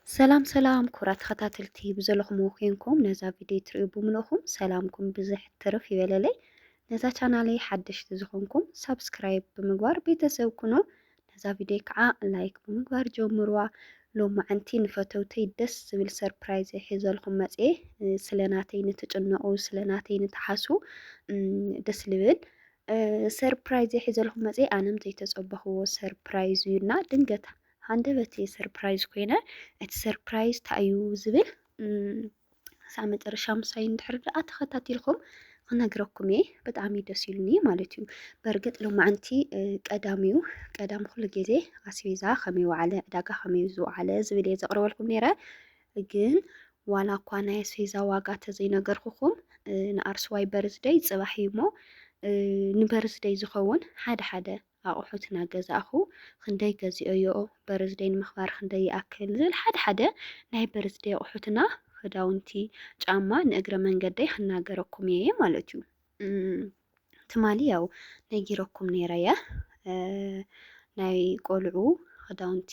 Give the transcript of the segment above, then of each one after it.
ሰላም ሰላም ኩብራት ተኸታተልቲ ብዘለኹምዎ ኮንኩም ነዛ ቪድዮ ትርእዩ ብምልእኹም ሰላምኩም ብዝሕ ትርፍ ይበለለይ። ነዛ ቻናለይ ሓደሽቲ ዝኾንኩም ሳብስክራይብ ብምግባር ቤተሰብ ኩኑ። ነዛ ቪድዮ ከዓ ላይክ ብምግባር ጀምርዋ። ሎማዕንቲ ንፈተውተይ ደስ ዝብል ሰርፕራይዝ ሒዘልኩም መፅኤ። ስለ ናተይ ንትጭነቑ ስለ ናተይ ንትሓስቡ ደስ ልብል ሰርፕራይዝ ሒዘልኩም መፅኤ። ኣነም ዘይተፀበኽዎ ሰርፕራይዝ እዩና ድንገት ሃንደበት እየ ሰርፕራይዝ ኮይነ እቲ ሰርፕራይዝ ታይ እዩ ዝብል ክሳብ መጨረሻ ምሳይ እንድሕር ደኣ ተኸታቲልኩም ክነግረኩም እየ ብጣዕሚ ደስ ኢሉኒ ማለት እዩ በርግጥ ሎማዓንቲ ቀዳም እዩ ቀዳም ኩሉ ግዜ ኣስቤዛ ከመይ ዋዓለ ዕዳጋ ከመይ ዝወዓለ ዝብል እየ ዘቕርበልኩም ነይረ ግን ዋላ እኳ ናይ ኣስቤዛ ዋጋ ተዘይነገርኩኹም ንኣርስዋይ በርዝደይ ፅባሕ እዩ እሞ ንበርዝደይ ዝኸውን ሓደ ሓደ ኣቑሑት እናገዛእኹ ኽንደይ ገዚኦዮ፣ በርዝደይ ንምኽባር ኽንደይ ይኣክል ዝብል ሓደ ሓደ ናይ በርዝደይ ኣቑሑትና፣ ኽዳውንቲ፣ ጫማ ንእግረ መንገደይ ኽናገረኩም እየ ማለት እዩ። ትማሊ ያው ነጊረኩም ነይረየ ናይ ቆልዑ ኽዳውንቲ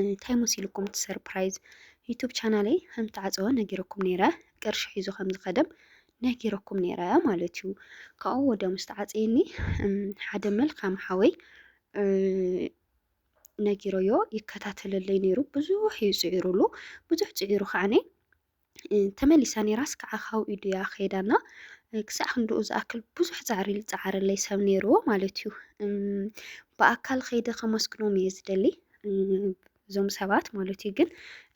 እንታይ መሲልኩም እቲ ሰርፕራይዝ ዩቱብ ቻናለይ ከም ተዓፀወ ነጊረኩም ነይረ ቅርሺ ሒዙ ከም ዝኸደም ነጊረኩም ነይረ ማለት እዩ ካብኡ ወደ ምስ ተዓፀየኒ ሓደ መልካም ሓወይ ነጊሮዮ ይከታተለለይ ነይሩ ብዙሕ እዩ ፅዒሩሉ ብዙሕ ፅዒሩ ከዓኒ ተመሊሳ ነይራስ ከዓ ካብኡ ኢዱ እያ ከይዳና ክሳዕ ክንድኡ ዝኣክል ብዙሕ ፃዕሪ ዝፀዓረለይ ሰብ ነይርዎ ማለት እዩ። ብኣካል ከይደ ከመስግኖም እየ ዝደሊ እዞም ሰባት ማለት እዩ። ግን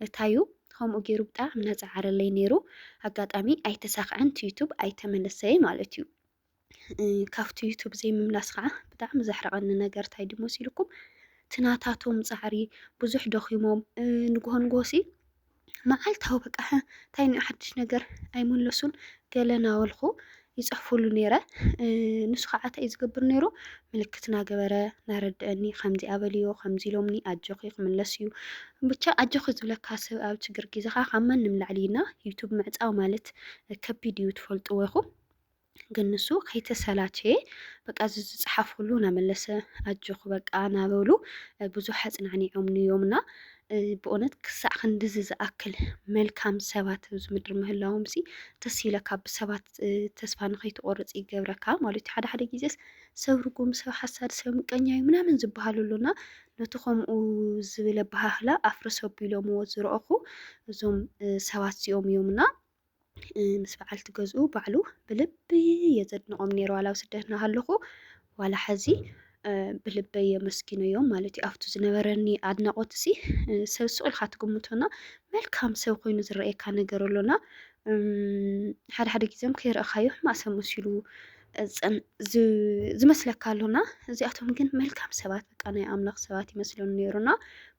እታዩ ከምኡ ገይሩ ብጣዕሚ ነፃዓረለይ ነይሩ። ኣጋጣሚ ኣይተሳክዐን ዩቱብ ኣይተመለሰይ ማለት እዩ። ካፍቲ ዩቱብ ዘይምምላስ ከዓ ብጣዕሚ ዘሕረቐኒ ነገር እንታይ ድዩ መሲልኩም እቲ ናታቶም ፃዕሪ ብዙሕ ደኺሞም ንግሆ ንግሆሲ መዓልታዊ በቃ እንታይ እኒኦ ሓድሽ ነገር ኣይመለሱን ገለ ናበልኩ ይፅሕፉሉ ነይረ ንሱ ከዓ እንታይ ዝገብር ነይሩ ምልክት ናገበረ ናረድአኒ ከምዚ ኣበልዮ ከምዚ ኢሎምኒ ኣጆኺ ክምለስ እዩ ብቻ ኣጆኺ ዝብለካ ሰብ ኣብ ችግር ግዜ ከዓ ካብ ማንም ላዕሊ እና ዩቱብ ምዕፃው ማለት ከቢድ እዩ ትፈልጥዎ ኢኹም ግን ንሱ ከይተሰላቸየ በቃ እዚ ዝፀሓፈሉ እናመለሰ ኣጆኹ በቃ እናበሉ ብዙሕ ኣፅናዕኒዖምኒ እዮምና ብእውነት ክሳዕ ክንድዚ ዝኣክል መልካም ሰባት ኣብዚ ምድሪ ምህላዎም ሲ ደስ ይብለካ ብሰባት ተስፋ ንኸይትቆርፅ ይገብረካ ማለት እዩ ሓደ ሓደ ግዜስ ሰብ ርጉም ሰብ ሓሳድ ሰብ ምቀኛ እዩ ምናምን ዝበሃሉ ኣሎና ነቲ ከምኡ ዝብል ኣበሃህላ ኣፍርስ ኣቢሎምዎ ዝረእኹ እዞም ሰባት እዚኦም እዮምና ምስ በዓልቲ ገዝኡ ባዕሉ ብልቢ እየ ዘድንቖም ነይሩ ዋላ ኣብ ስደት እናሃለኹ ዋላ ሐዚ ብልበይ የመስግነዮም ማለት እዩ ኣብቱ ዝነበረኒ ኣድናቖት እዚ ሰብ ስቕ ኢልካ ትግምቶና መልካም ሰብ ኮይኑ ዝረኣየካ ነገር ኣሎና ሓደ ሓደ ግዜም ከይረእኻዮ ሕማቅ ሰብ መሲሉ እፅን ዝመስለካ ኣሎና እዚኣቶም ግን መልካም ሰባት በቃ ናይ ኣምላኽ ሰባት ይመስለኒ ነይሩና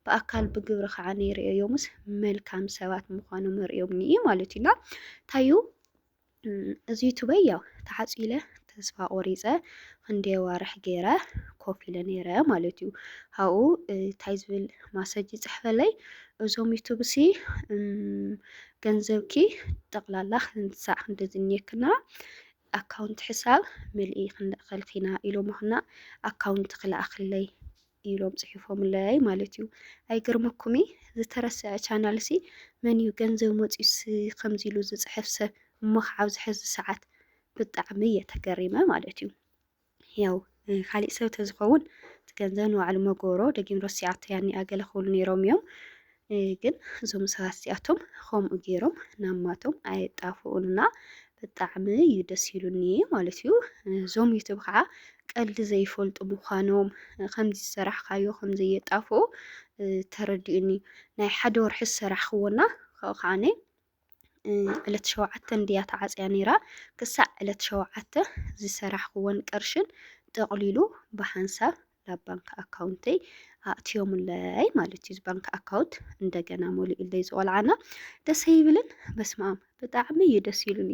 ብኣካል ብግብሪ ከዓ ነይርእዮዮምስ መልካም ሰባት ምዃኑ መርእዮምኒ እዩ ማለት እዩና ታዩ እዚ ዩቱበይ ያው ተሓፂለ ተስፋ ቆሪፀ ክንደ ዋርሕ ገይረ ኮፍ ኢለ ነይረ ማለት እዩ ሃኡ እንታይ ዝብል ማሰጅ ይፅሕፈለይ እዞም ዩቱብሲ ገንዘብኪ ጠቕላላ ክንሳዕ ክንደዝኒየክና ኣካውንት ሕሳብ ምልኢ ክንልእኸልክ ኢና ኢሎሞክና ኣካውንት ክልኣክለይ ኢሎም ጽሒፎምለይ ማለት እዩ ኣይገርመኩምይ ዝተረሰዐ ቻናል ሲ መን እዩ ገንዘብ መጽዩስ ከምዚ ኢሉ ዝጽሕፍ ሰብ እሞ ክዓብ ዝሕዚ ሰዓት ብጣዕሚ እየ ተገሪመ ማለት እዩ ያው ካሊእ ሰብ ተዝኸውን እቲ ገንዘብ ንባዕሉ መጎሮ ደጊም ረሲዓቶ ያኒኣ ገለ ክብሉ ነይሮም እዮም ግን እዞም ሰባት እዚኣቶም ከምኡ ገይሮም ናማቶም ኣየጣፍኡንና ብጣዕሚ እዩ ደስ ኢሉኒ ማለት እዩ እዞም ዩቱብ ከዓ ቀልዲ ዘይፈልጡ ምዃኖም ከምዚ ዝሰራሕካዮ ከምዘየጣፍኡ ተረዲኡኒ ናይ ሓደ ወርሒ ዝሰራሕክዎና ካብኡ ከዓኒ ዕለት ሸውዓተ እንድያ ተዓፅያ ነይራ። ክሳዕ ዕለት ሸውዓተ ዝሰራሕኽዎን ቅርሽን ጠቕሊሉ ብሓንሳብ ናብ ባንክ ኣካውንተይ ኣእትዮምለይ ማለት እዩ። ባንክ ኣካውንት እንደገና ሞሊኡለይ ዝቆልዓና ደስ ይብልን። በስማም ብጣዕሚ እዩ ደስ ይሉኒ።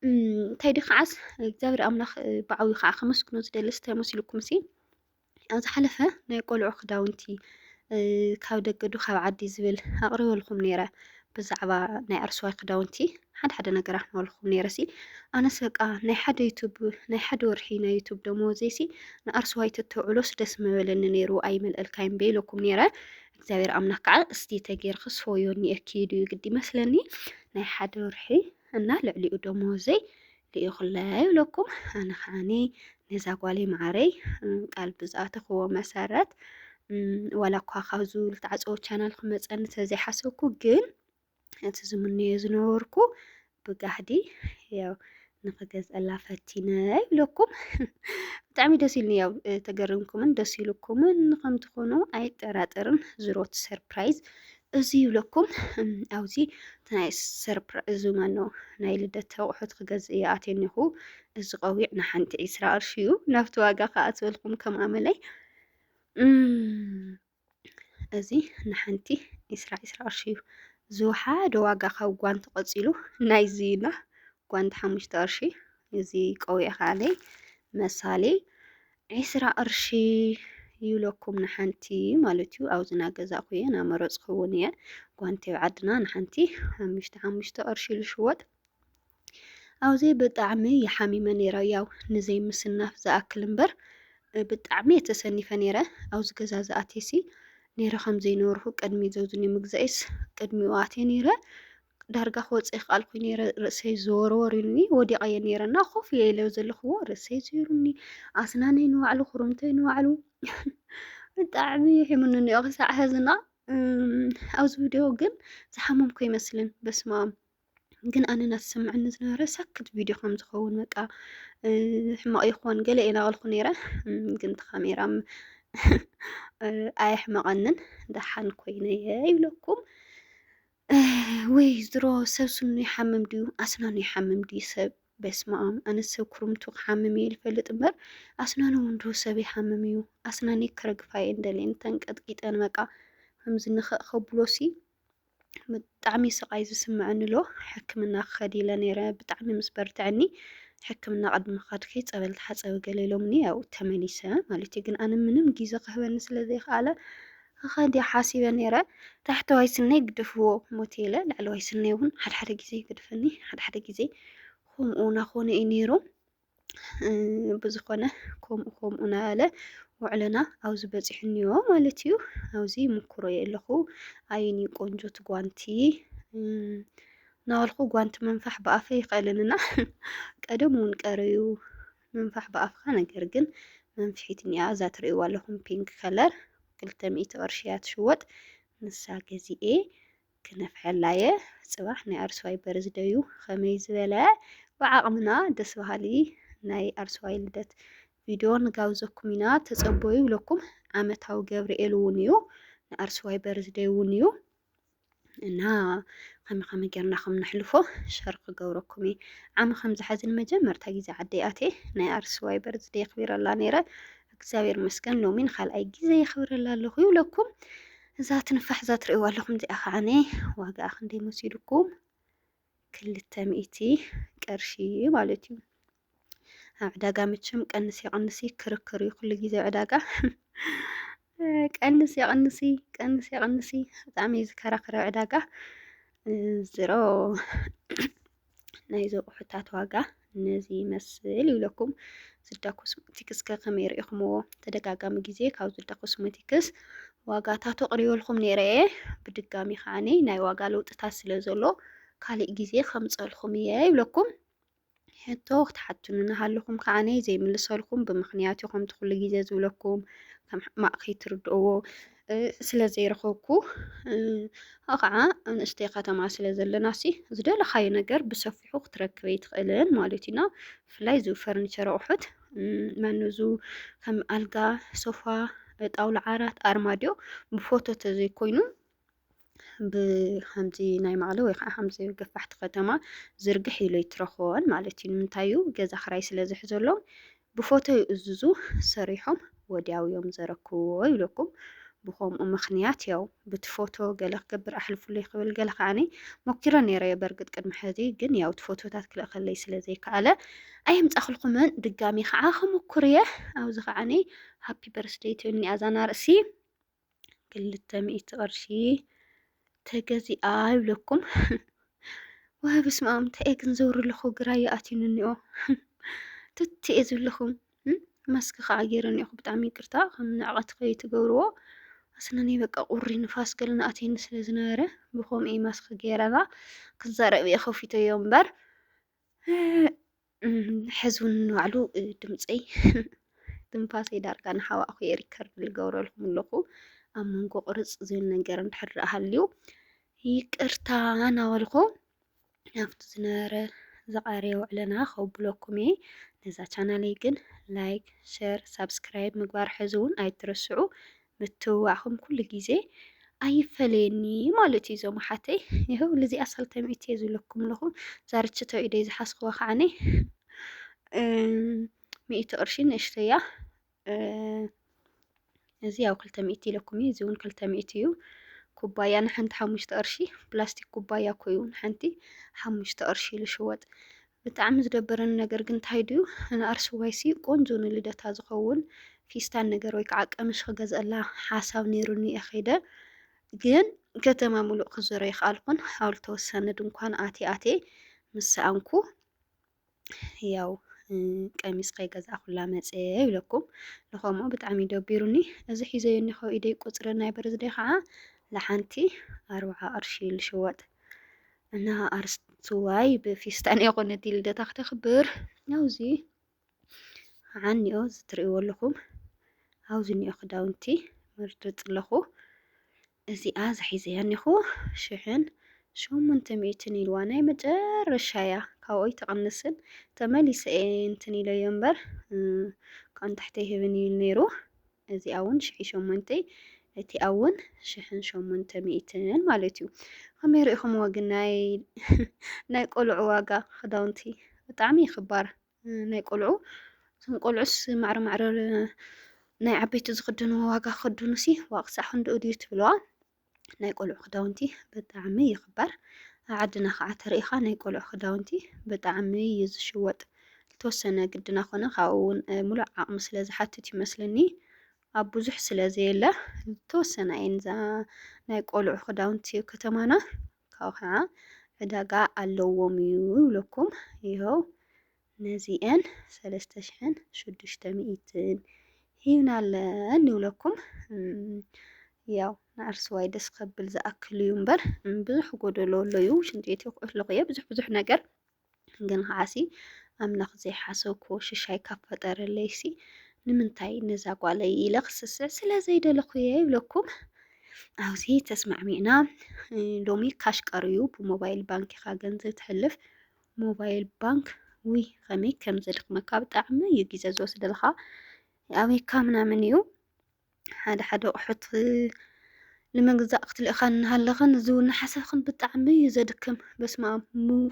እንታይ ዲ ከዓስ እግዚኣብሔር ኣምላኽ ብዓብዩ ከዓ ከመስግኖ ዝደልስ እንታይ መስልኩም ሲ ኣብ ዝሓለፈ ናይ ቆልዑ ክዳውንቲ ካብ ደገ ዶ ካብ ዓዲ ዝብል ኣቕሪበልኩም ነይረ ብዛዕባ ናይ ኣርሰዋይ ክዳውንቲ ሓደ ሓደ ነገር ኣሕመልኩም ነይረ ሲ ኣነስ በቃ ናይ ሓደ ዩቱብ ናይ ሓደ ወርሒ ናይ ዩቱብ ደመወዘይ ሲ ንኣርሰዋይ ተተውዕሎስ ደስ ምበለኒ ነይሩ ኣይመልእልካይም በኢለኩም ነይረ እግዚኣብሔር ኣምላክ ከዓ እስቲ ተጌርክስ ፎዮ ኒኤኪ ድዩ ግዲ መስለኒ ናይ ሓደ ወርሒ እና ልዕሊኡ ደሞወዘይ ልኢኹለይ ይብለኩም ኣነ ከዓኒ ነዛ ጓለይ መዓረይ ቃል ብዝኣተኽዎ መሰረት ዋላ እኳ ካብዚ ዝተዓፀወ ቻናል ክመፀኒ ተዘይሓሰብኩ ግን እቲ ዝምነዮ ዝነበርኩ ብጋህዲ ያው ንክገዝአላ ፈቲነ ይብለኩም ብጣዕሚ ደስ ኢሉኒ ያው ተገርምኩምን ደስ ኢሉኩምን ከምትኾኑ ኣይጠራጠርን ዝሮት ሰርፕራይዝ እዚ ይብለኩም ኣብዚ ናይ ሰርፕራ እዚ መኖ ናይ ልደት ኣቑሑት ክገዝእ እየ ኣትየ እኒኹ። እዚ ቆቢዕ ንሓንቲ ዒስራ ቅርሺ እዩ። ናብቲ ዋጋ ከዓ ዝበልኩም ከም ኣመለይ እዚ ንሓንቲ ዒስራ ዒስራ ቅርሺ እዩ። ዝወሓደ ዋጋ ካብ ጓንቲ ቀፂሉ ናይዚ እዩና ጓንቲ ሓሙሽተ ቅርሺ እዚ ቆቢዕ ከዓ መሳሌ ዒስራ ቅርሺ ይብለኩም ንሓንቲ ማለት እዩ ኣብዚ ናገዛእኹ እየ ናመረፅኩ እውን እየ ጓንቲ ኣብ ዓድና ንሓንቲ ሓሙሽተ ሓሙሽተ ቅርሺ ዝሽወጥ ኣብዚ ብጣዕሚ ይሓሚመ ነይረ ያው ንዘይ ምስናፍ ዝኣክል እምበር ብጣዕሚ እየ ተሰኒፈ ነይረ ኣብዚ ገዛ ዝኣቴሲ ነይረ ከምዘይነበርኩ ቅድሚ ዘዙኒ ምግዛኤስ ቅድሚኡ ኣትየ ነይረ ዳርጋ ክወጽ ይክኣል ኮይኑ ነረ ርእሰይ ዘወርወር ኢሉኒ ወዲቀ እየ ነረ እና ኮፍ እየ ኢለ ዘለኽዎ ርእሰይ ዘይሩኒ ኣስናነይ ንባዕሉ ኩርምተይ ንባዕሉ ብጣዕሚ ሒሙኒ እኒኦ ክሳዕ ሕዝና ኣብዚ ቪድዮ ግን ዝሓመምኩ ይመስልን በስማም ግን ኣነ እናተሰምዐኒ ዝነበረ ሰክት ቪድዮ ከም ዝኸውን በቃ ሕማቕ ይኾን ገለ ኢና በልኩ ነይረ ግን ተካሜራ ኣየሕመቐንን ደሓን ኮይነ እየ ይብለኩም ውይ ድሮ ሰብ ስኑ ይሓምም ድዩ ኣስናኑ ይሓምም ድዩ ሰብ በስመኣም ኣነስ ሰብ ኩርምቱ ክሓምም እየ ልፈልጥ እምበር ኣስናኑ እውን ዶ ሰብ ይሓምም እዩ ኣስናነይ ክረግፋ እየ እንደልየን ተንቀጥቂጠን በቃ ከምዚ ንኽእ ከብሎሲ ብጣዕሚ ስቓይ ዝስምዐኒ ኣሎ ሕክምና ክኸድ ኢለ ነይረ ብጣዕሚ ምስ በርትዐኒ ሕክምና ቅድሚ ኸድኪ ፀበል ተሓፀቢ ገለ ኢሎምኒ ያው ተመሊሰ ማለት እዩ ግን ኣነ ምንም ግዜ ክህበኒ ስለ ዘይክኣለ እኸ ድያ ሓሲበ ነይረ ታሕተዋይ ስነይ ግደፍዎ ሞት ኢለ ላዕለዋይ ስነይ እውን ሓደ ሓደ ግዜ ይገድፈኒ ሓደ ሓደ ግዜ ከምኡ ናኾነ እዩ ነይሩ ብዝኾነ ከምኡ ከምኡ ናበለ ውዕለና ኣብዚ በፂሑ እኒኦ ማለት እዩ ኣብዚ ይምኩሮ እየ ኣለኹ ኣይኒ ቆንጆ ትጓንቲ ናበልኩ ጓንቲ ምንፋሕ ብኣፈ ይኽእልን እና ቀደም እውን ቀረዩ ምንፋሕ ብኣፍካ ነገር ግን መንፍሒት እኒኣ እዛ ትርእይዋ ኣለኹም ፒንክ ከለር ክልተ ሚእቲ ቅርሺ እያ ትሽወጥ ንሳ ገዚኤ ክነፍሐላ እየ ፅባሕ ናይ ኣርስዋይ በርዝ ደዩ ከመይ ዝበለ ብዓቕምና ደስ በሃሊ ናይ ኣርስዋይ ልደት ቪድዮ ንጋብዘኩም ኢና ተፀበዩ ይብለኩም ዓመታዊ ገብርኤል እውን እዩ ንኣርስዋይ በርዝ ደይ እውን እዩ እና ከመይ ከመይ ጌርና ከም ነሕልፎ ሸር ክገብረኩም እየ ዓሚ ከምዚ ሓዚ ንመጀመርታ ግዜ ዓደይ ኣትየ ናይ ኣርስዋይ በርዝደ የኽቢረላ ነይረ እግዚኣብሔር መስገን ሎሚ ንካልኣይ ግዜ የኽብረላ ኣለኹ ይብለኩም እዛ ትንፋሕ እዛ ትርእይዋ ኣለኹም እዚኣ ከዓነ ዋጋኣ ክንደይ መሲልኩም ክልተ ሚእቲ ቅርሺ ማለት እዩ ኣብ ዕዳጋ መቸም ቀንስ የቐንሲ ክርክር እዩ ኩሉ ግዜ ዕዳጋ ቀንስ የቐንሲ ቀንስ የቐንሲ ብጣዕሚ እዩ ዝከራኸረ ዕዳጋ ዝሮ ናይ ዘቑሑታት ዋጋ ነዚ ይመስል ይብለኩም ዝዳ ኮስሞቲክስ ከ ከመይ ርኢኹምዎ ተደጋጋሚ ግዜ ካብ ዝዳ ኮስሞቲክስ ዋጋታቱ ኣቕሪበልኩም ነይረ እየ ብድጋሚ ከዓኒ ናይ ዋጋ ለውጥታት ስለ ዘሎ ካሊእ ግዜ ከምፀልኹም እየ ይብለኩም ሕቶ ክትሓቱኒ እናሃለኹም ከዓ እኔ ዘይምልሰልኩም ብምኽንያት ከምቲ ኩሉ ግዜ ዝብለኩም ከም ሕማቕ ከይትርድእዎ ስለ ዘይረኸብኩ ከዓ ንእሽተይ ከተማ ስለ ዘለና ሲ ዝደለኻዮ ነገር ብሰፊሑ ክትረክብ ኣይትኽእልን ማለት እዩና ብፍላይ እዚ ፈርኒቸር ኣቑሑት መኑዙ ከም ኣልጋ ሶፋ ጣውላ ዓራት ኣርማድዮ ብፎቶ ተዘይኮይኑ ብከምዚ ናይ መቐለ ወይ ከዓ ከምዚ ገፋሕቲ ከተማ ዝርግሕ ኢሉ ኣይትረኽቦን ማለት እዩ። ንምንታይ እዩ ገዛ ክራይ ስለ ዝሕዘሎም ብፎቶ ይእዝዙ ሰሪሖም ወዲያው እዮም ዘረክብዎ ይብለኩም። ብከምኡ ምክንያት ያው ብቲ ፎቶ ገለ ክገብር ኣሕልፉለይ ክብል ገለ ከዓኒ ሞኪረ ነይረ እየ በርግጥ ቅድሚ ሕዚ ግን ያው እቲ ፎቶታት ክልእከለይ ስለ ዘይከኣለ ኣየምፃእክልኩምን ድጋሚ ከዓ ክምኩር እየ ኣብዚ ከዓኒ ሃፒ በርስደይ ትብልኒ ኣዛና ርእሲ ክልተ ሚእቲ ቅርሺ ተገዚኣ ይብለኩም። ዋይ በስመ ኣም እንታይ እየ ግን ዘውሪ ኣለኹ ግራ ይኣትዩኒ እኒኦ ትቲ እየ ዝብለኹም ማስክ ከዓ ገይረ እኒኦኹ ብጣዕሚ ይቅርታ ከም ንዕቐት ከይትገብርዎ ኣስነኒ በቃ ቁሪ ንፋስ ገለ ንኣትየኒ ስለ ዝነበረ ብከምኡ ማስክ ገይረና ክዛረብ እየ ከፊተዮ እምበር ሕዝውን ንባዕሉ ድምፀይ ትንፋሰይ ዳርጋ ንሓዋእኹ እየ ሪከርድ ዝገብረልኩም ኣለኹ ኣብ መንጎ ቁርፅ ዝብል ነገር እንድሕር ሃልዩ ይቅርታ እናበልኩ ናብቲ ዝነበረ ዝቐረየ ውዕለና ከብለኩም እየ ነዛ ቻናለይ ግን ላይክ ሸር ሳብስክራይብ ምግባር ሕዝውን ኣይትረስዑ ምትብባዕኹም ኩሉ ግዜ ኣይፈለየኒ ማለት እዩ እዞም ኣሓተይ ይኸው ልዚኣ ሳልታይ ሚእቲ እየ ዝብለኩም ኣለኹ ዛርችቶ ኢደ ዝሓዝክዋ ከዓኒ ሚእቲ ቅርሺ ንእሽተያ እዚ ያው ክልተ ሚእቲ ኢለኩም እዩ እዚ እውን ክልተ ሚእቲ እዩ ኩባያ ንሓንቲ ሓሙሽተ ቅርሺ ፕላስቲክ ኩባያ ኮ እዩ ንሓንቲ ሓሙሽተ ቅርሺ ኢሉ ሽወጥ ብጣዕሚ ዝደበረኒ ነገር ግን ታይ ድዩ ንኣርሱዋይሲ ቆንጆ ንልደታ ዝኸውን ፊስታን ነገር ወይ ከዓ ቀምሽ ክገዝኣላ ሓሳብ ነይሩኒ እየ ከይደ ግን ከተማ ሙሉእ ክዞረ ይክኣልኩን ኣብ ዝተወሰነ ድንኳን ኣቴ ኣቴ ምስ ሰኣንኩ ያው ቀሚስ ከይገዛእኩላ መፀ ይብለኩም ንኸምኡ ብጣዕሚ ደቢሩኒ እዚ ሒዘዮ እኒኸ ኢደይ ቁፅሪ ናይ በርዝደይ ከዓ ንሓንቲ ኣርብዓ ቅርሺ ልሽወጥ እና ኣርስዋይ ብፊስታን የኾነት ልደታ ክተኽብር ናውዚ ዓኒኦ ዝትርእይዎ ኣለኹም ኣብዚ ኒኦ ክዳውንቲ መርድፅ ኣለኹ እዚኣ ዝሒዘያ እኒኹ ሽሕን ሸሞንተ ሚእትን ኢልዋ ናይ መጨረሻ እያ ካብኡ ኣይትቕንስን ተመሊሰ እንትን ኢለዮ እምበር ካብኡ ንታሕቲ ይህብን ኢሉ ነይሩ እዚ ኣውን ሽሒ ሸሞንተ እቲ ኣውን ሽሕን ሸሞንተ ሚእትን ማለት እዩ። ከመይ ርኢኹምዎ ግን ናይ ናይ ቆልዑ ዋጋ ክዳውንቲ ብጣዕሚ ይኽባር ናይ ቆልዑ እቶም ቆልዑስ ማዕረ ማዕረ ናይ ዓበይቲ ዝኽድንዎ ዋጋ ክኽድኑሲ ዋቅሳዕ ክንድኡ ድዩ ትብልዋ ናይ ቆልዑ ክዳውንቲ ብጣዕሚ ይኽበር። ኣብ ዓድና ከዓ ተሪኢኻ ናይ ቆልዑ ክዳውንቲ ብጣዕሚ እዩ ዝሽወጥ። ዝተወሰነ ግድና ኮነ ካብኡ እውን ሙሉእ ዓቕሚ ስለ ዝሓትት ይመስለኒ ኣብ ብዙሕ ስለ ዘየለ ዝተወሰና እየን እዛ ናይ ቆልዑ ክዳውንቲ ከተማና ካብኡ ከዓ ዕዳጋ ኣለዎም እዩ ይብለኩም ይኸው ነዚኤን ሰለስተ ሽሕን ሽዱሽተ ሚኢትን ሂብናለን ይብለኩም ያው ንኣርስዋይ ደስ ከብል ዝኣክል እዩ እምበር ብዙሕ ጎደሎ ኣሎ እዩ ሽንቲ ቤት ይኩዑት ኣለኹ እየ ብዙሕ ብዙሕ ነገር ግን ከዓሲ ኣምላኽ ዘይሓሰብኩ ሽሻይ ካብ ፈጠረለይ ሲ ንምንታይ ነዛ ጓለይ ኢለ ክስስዕ ስለ ዘይደለኹ እየ ይብለኩም ኣብዚ ተስማዕሚዕና ሎሚ ካሽ ቀርዩ ብሞባይል ባንኪኻ ገንዘብ ትሕልፍ ሞባይል ባንክ ውይ ከመይ ከም ዘድክመካ ብጣዕሚ እዩ ግዜ ዝወስደልካ ኣበይካ ምናምን እዩ ሓደ ሓደ ኣቑሑት ንምግዛእ ክትልእኻ እናሃለኽን እዚ እውን ሓሰብክን ብጣዕሚ እዩ ዘድክም በስመ ኣብ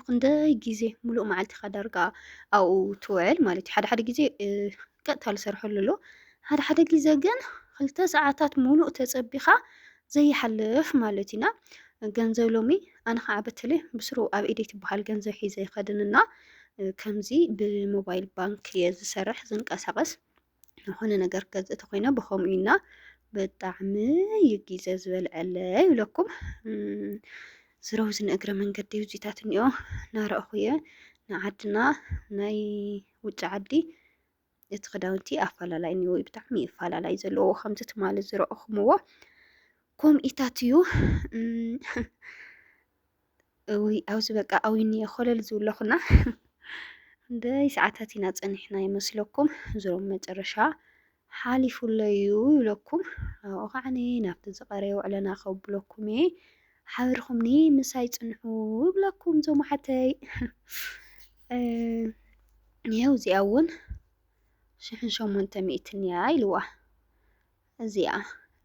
ክንደይ ግዜ ሙሉእ መዓልቲኻ ዳርጋ ኣብኡ ትውዕል ማለት እዩ ሓደ ሓደ ግዜ ቀጥታ ዝሰርሐሉ ኣሎ ሓደ ሓደ ግዜ ግን ክልተ ሰዓታት ሙሉእ ተፀቢኻ ዘይሓልፍ ማለት ኢና ገንዘብ ሎሚ ኣነ ከዓ በተለይ ብስሩ ኣብ ኢደይ ትበሃል ገንዘብ ሒዘ ይኸድን እና ከምዚ ብሞባይል ባንክ እየ ዝሰርሕ ዝንቀሳቀስ ዝኾነ ነገር ገዝ ተኮይነ ብከምኡ ኢና ብጣዕሚ እዩ ግዘ ዝበልዐለ ይብለኩም ዝረውዚ ንእግረ መንገዲ ውዚታት እኒኦ ናረእኹ እየ ንዓድና ናይ ውጭ ዓዲ እቲ ክዳውንቲ ኣፈላላይ እኒዎ ብጣዕሚ እዩ ኣፈላላይ ዘለዎ ከምዚ ትማሊ ዝረእኹምዎ ከምኢታት እዩ እውይ ኣብዚ በቃ ኣዊኒ ኮለል ዝብለኹና ደይ ሰዓታት ኢና ፀኒሕና ይመስለኩም ዝሮም መጨረሻ ሓሊፉለዩ ይብለኩም ኣብኡ ከዓኒ ናብቲ ዝቐረየ ውዕለና ከብለኩም እየ ሓቢርኩምኒ ምሳይ ጽንሑ እብለኩም ዞም ኣሓተይ ይሀው እዚኣ እውን ሽሕን ሸሞንተ ሚእትን እያ ኢልዋ እዚኣ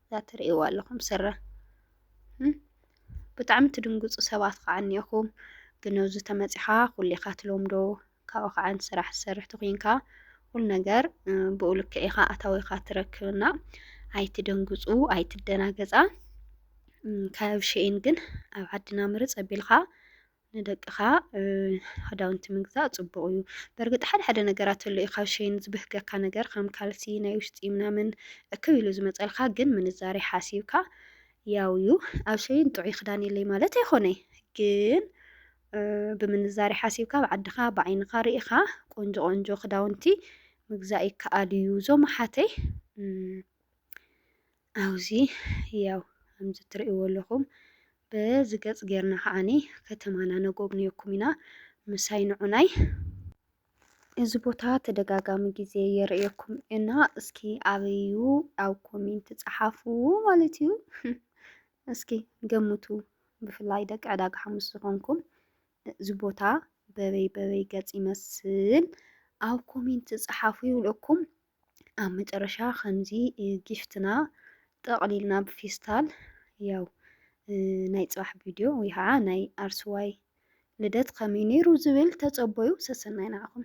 እዛ ትርእይዋ ኣለኹም ስረ ብጣዕሚ ትድንግፁ ሰባት ከዓ እኒኦኹም ግን ኣብዚ ተመፂኻ ኩሊኻ ትለምዶ ካብኡ ከዓ ን ስራሕ ትሰርሕ ተኮይንካ ኩሉ ነገር ብኡ ልክዕ ኢካ ኣታዊካ ትረክብ እና ኣይትደንግፁ ኣይትደናገፃ ካብ ሸይን ግን ኣብ ዓድና ምርፅ ኣቢልካ ንደቅኻ ክዳውንቲ ምግዛእ ፅቡቅ እዩ በእርግጥ ሓደ ሓደ ነገራት ኣሎ እዩ ካብ ሸይን ዝበህገካ ነገር ከም ካልሲ ናይ ውሽጢ ምናምን እክብ ኢሉ ዝመፀልካ ግን ምንዛሬ ሓሲብካ ያው እዩ ኣብ ሸይን ጥዑይ ክዳን የለይ ማለት ኣይኮነይ ግን ብምንዛሬ ሓሲብካ ኣብ ዓድኻ ብዓይንኻ ርኢኻ ቆንጆ ቆንጆ ክዳውንቲ ምግዛእ ይከኣል እዩ እዞም ኣሓተይ ኣብዚ ያው ከምዚ ትርእይዎ ኣለኹም በዚ ገጽ ጌርና ከዓኒ ከተማና ነጎብንየኩም ኢና ምሳይ ንዑናይ እዚ ቦታ ተደጋጋሚ ግዜ የርእየኩም እና እስኪ ኣበዩ ኣብ ኮሜንት ጸሓፉ ማለት እዩ። እስኪ ገምቱ። ብፍላይ ደቂ ዕዳጋ ሓሙስ ዝኾንኩም እዚ ቦታ በበይ በበይ ገጽ ይመስል ኣብ ኮሜንት ጸሓፉ ይብለኩም። ኣብ መጨረሻ ከምዚ ጊፍትና ጠቕሊልና ብፌስታል ያው ናይ ጽባሕ ቪድዮ ወይ ከዓ ናይ ኣርስዋይ ልደት ከመይ ነይሩ ዝብል ተጸበዩ። ሰሰናይ ንዓኹም።